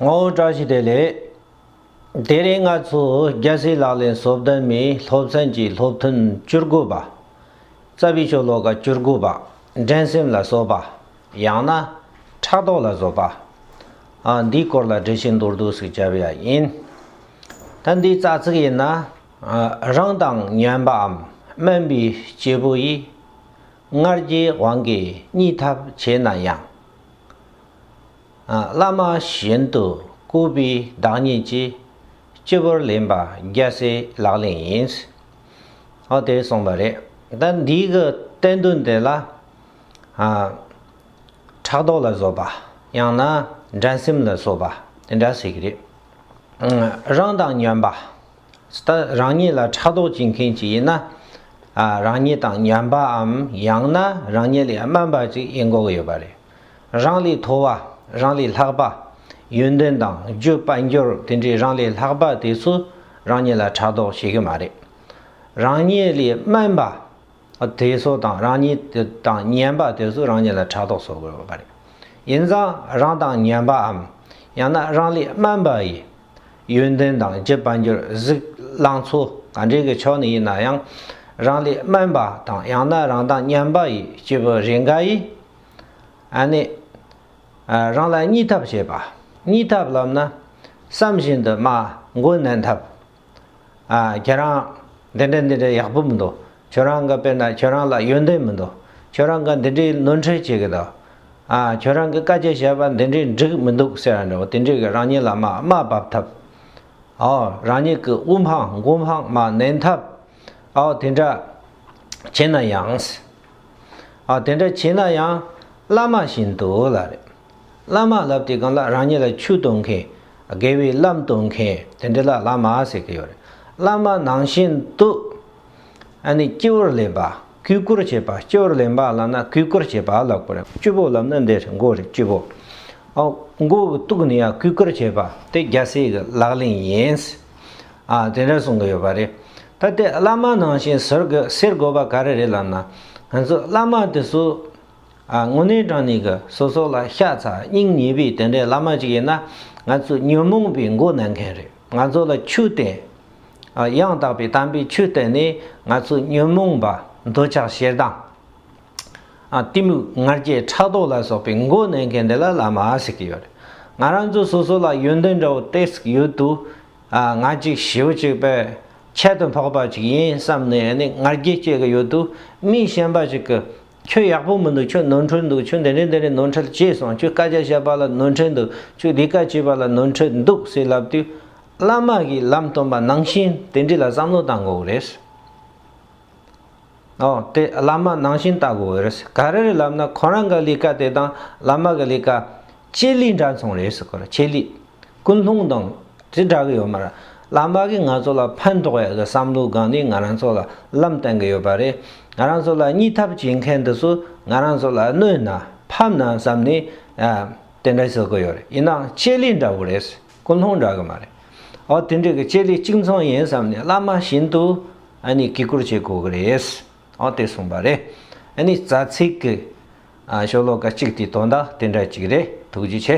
ངོ་བོ་བཀྲ་ཤིས་བདེ་ལེགས། དེ་རིང་ང་ཚོ་རྒྱལ་སྲིད་ལག་ལེན་བཟོ་བདམས་མི་སློབ་ཚན་གྱི་སློབ་ཐུན་བཅུ་དགུ་པ། རྩ་བའི་ཆོས་ལོ་ཀ་བཅུ་དགུ་པ་འགྲན་སེམས་ལ་བཟོ་པ། ཡང་ན། ཕྲག་དོག་ལ་བཟོ་པ། འདིའི་སྐོར་ལ་འགྲེལ་བཤད་མདོར་བསྡུས་སུ་བྱ་བ་ཡང་ཡིན། ད་འདིའི་རྩ་ཚིག་ཡིན་ན། རང་དང་སྙན་པའམ་དམན་པའི་སྐྱེས་བུ་ཡིས། སྔར་གྱི་དབང་གིས་གཉིད་ཐབས་བྱས་ན་ཡང། བླ་མ་གཞན་དུ་བཀུར་པའི་བདག་ཉིད་ཀྱིས་སྤྱི་བོར་ལེན་པ་རྒྱལ་སྲས་ལག་ལེན་ཡིན། ཨོ་དེས་གསུངས་པ་རེད། ད་འདིའི་གི་བསྟན་དོན་དེ་ལ། ཕྲག་དོག་ལ་བཟོད་པ་ཡང་ན་འགྲན་སེམས་ལ་བཟོད་པ་དེ་འདྲ་ཟེར་གྱི་རེད། རང་དང་ཉོན་པ། ད་རང་ཉིད་ལ་ཕྲག་དོག་བྱེད་མཁན་ཅིག་ཡིན་ན། རང་ཉིད་དང་ཉོན་པའམ་ཡང་ན་རང་ཉིད་ལས་དམན་པ་ཅིག་ཡིན་དགོས་ཀྱི་ཡོད་པ་རེད། རང་ལས་མཐོ་བ་རང་ལས་ལྷག་པ། ཡོན་ཏན་དང་རྒྱུད་དཔལ་འབྱོར་དེ་འདྲའི་རང་ལས་ལྷག་པ་དེ་ཚོ་རང་ཉིད་ལ་ཕྲག་དོག་བྱེད་ཀྱི་མ་རེད། རང་ཉིད་ལས་དམན་པ་དེ་ཚོ་དང་རང་ཉིད་དང་ཉན་པ་དེ་ཚོ་རང་ཉིད་ལ་ཕྲག་དོག་བཟོ་དགོས་པ་རེད། ཡིན་ཙང་རང་དང་ཉན་པའམ་ཡང་ན་རང་ལས་དམན་པ་ཡི་ཡོན་ཏན་དང་རྒྱུད་དཔལ་འབྱོར་གཟིགས་བསླངས་ཚོ་ག་འདྲའི་གི་ཕྱོགས་ནས་ཡིན་ན་ཡང་རང་ལས་དམན་པ་དང་ཡང་ན་རང་དང་ཉན་པ་ཡི་སྐྱེས་བུ་རེ་འགའ་ཡིས་ནི། རང་ལ་གཉིས་ཐབས་བྱེད་པ། གཉིས་ཐབས་ལབ་ན། བསམ་བཞིན་དུ་སྨྲ་མགོན་ནན་ཐབས། ཁྱེད་རང་འདི་འདྲ་འདི་འདྲ་ཡག་པོ་མི་འདུག་ཁྱོད་རང་གི་དཔེར་ན་ཁྱོད་རང་ལ་ཡོན་ཏན་མི་འདུག་ཁྱོད་རང་གི་འདི་འདྲའི་ནོར་འཁྲུལ་བྱེད་ཀྱི་འདུག་ཁྱོད་རང་གི་བཀའ་རྒྱ་བྱས་པ་འདི་འདྲའི་འགྲིག་མི་འདུག་ཟེར་བ་འདྲ་བོ་དེ་འདྲས་ཀྱི་རང་ཉིད་ལ་སྨྲ་སྨྲ་འབབ་ཐབས། རང་ཉིད་ཀྱི་དབུ་འཕང་མགོ་འཕང་སྨྲ་ནན་ཐབས། དེ་འདྲ། བྱེད་ན་ཡང། ཨ་དེ་འདྲ་བྱེད་ན་ཡང། བླ་མ་བཞིན་དུ་ལ་རེ། བླ་མ་ལབ་དེ་གང་ལ་རང་ཉིད་ལ་ཆུ་གཏོང་མཁན། དགེ་བའི་བླ་གཏོང་མཁན་དེ་འདྲ་ལ་བླ་མ་ཟེར་གྱི་ཡོད་རེད། བླ་མ་ནང་བཞིན་དུ། ཨ་ནི་སྤྱི་བོར་ལེན་པ། གུས་བཀུར་བྱེད་པ་སྤྱི་བོར་ལེན་པ་ལབ་ན་གུས་བཀུར་བྱེད་པ་ལབ་དགོས་རེད། སྤྱི་བོར་ལབ་ན་འདི་རེད་མགོ་རེད་སྤྱི་བོ། མགོ་གི་སྟུག་ནི་ཡང་གུས་བཀུར་བྱེད་པ་དེ་རྒྱལ་སྲས་ཀྱི་ལག་ལེན་ཡིན། ཨ། དེ་འདྲ་གསུང་གི་ཡོད་པ་རེད། ད་དེ་བླ་མ་ནང་བཞིན་ཟེར་དགོས་པ་ག་རེ་རེད་ལབ་ན། ང་ཚོ་བླ་མ་དེ་ཚོ། ཨ། དངོས་གནས་དྲང་ནི་གི་སོ་སོ་ལ་ཤ་ཚ་སྙིང་ཉེ་བའི་དེ་འདྲའི་བླ་མ་ཅིག་ཡིན་ན། ང་ཚོ་ཉོན་མོངས་པའི་མགོ་ན་མཁན་རེད་ང་ཚོ་ལ་ཆོས་བསྟན། ཨ། ཡང་དག་པའི་དམ་པའི་ཆོས་བསྟན་ནས་ང་ཚོ་ཉོན་མོངས་པ་འདོད་ཆགས་ཞེ་སྡང། གཏི་མུག་ངར་སྐྱེས་ཕྲག་དོག་ལ་སོགས་པའི་མགོ་གནོན་མཁན་དེ་ལ་བླ་མ་ཟེར་གྱི་ཡོད་རེད། ང་རང་ཚོ་སོ་སོ་ལ་ཡོན་ཏན་འདྲ་བོ་སྟེ་ཟིག་ཡོད་དུ། ང་གཅིག་བྱིའུ་གཅིག་པའི་ཁྱད་དུ་འཕགས་པ་ཅིག་ཡིན་བསམ་ནས་ནི་ངར་སྐྱེས་སྐྱེས་ཀྱི་ཡོད་དུ། མི་གཞན་པ་ཞིག་གིས་ཁྱོད་ཡག་པོ་མི་འདུག་ཁྱོད་ནོར་འཁྲུལ་འདུག་ཁྱོད་དེ་འདྲས་དེ་འདྲས་ནོར་འཁྲུལ་སྐྱེས་སོང་ཁྱོད་བཀའ་རྒྱ་བཤད་པ་ལ་ནོར་འཁྲུལ་འདུག་ཁྱོད་འདི་ཀ་བྱས་པ་ལ་ནོར་འཁྲུལ་འདུག་ཟེར་ལབ་དུས། བླ་མ་གིས་ལམ་སྟོན་པ་ནང་བཞིན་དེ་འདྲས་ལ་བསམ་བློ་བཏང་དགོས་རེད། ཨོ། དེ་བླ་མ་ནང་བཞིན་ལྟ་དགོས་པ་རེད། ག་རེ་རེད་ལབ་ན་ཁོ་རང་གི་ལས་ཀ་དེ་དང་བླ་མ་གི་ལས་ཀ། ཆེད་ལས་འདྲ་མཚུངས་རེད་ཟེར་གོ་ར་ཆེད་ལས། ཀུན་སློང་དང། དེ་འདྲ་གི་ཡོད་མ་ར། བླ་མ་གིས་ང་ཚོ་ལ་ཕན་ཐོགས་ཡག་གི་བསམ་བློའི་སྒང་ནས་ང་རང་ཚོ་ལ་ལམ་བསྟན་གི་ཡོད་པ་རེད། ང་རང་ཚོ་ལ་གཉིས་ཐབས་བྱེད་མཁན་དེ་ཚོ་ང་རང་ཚོ་ལ་གནོད་ན་ཕམ་ན་བསམ་ནས། དེ་འདྲ་ཟེར་གི་ཡོད་རེད་ཡིན་ནའང་ཆེད་ལས་འདྲ་བོ་རེད། ཀུན་སློང་འདྲ་གི་མ་རེད། ཨོ་དེ་འདྲའི་གི་དཔྱད་གླེང་གཅིག་མཚུངས་ཡིན་བསམ་ནས་བླ་མ་བཞིན་དུ་ཨ་ནི་གུས་བཀུར་བྱེད་དགོས་གི་རེད། ཨོ་དེ་གསུངས་པ་རེད། ཨ་ནི་རྩ་ཚིག་གི་ཤོ་ལོ་ཀ་གཅིག་དེ་དོན་དག་དེ་འདྲ་གཅིག་རེད་ཐུགས་རྗེ་ཆེ།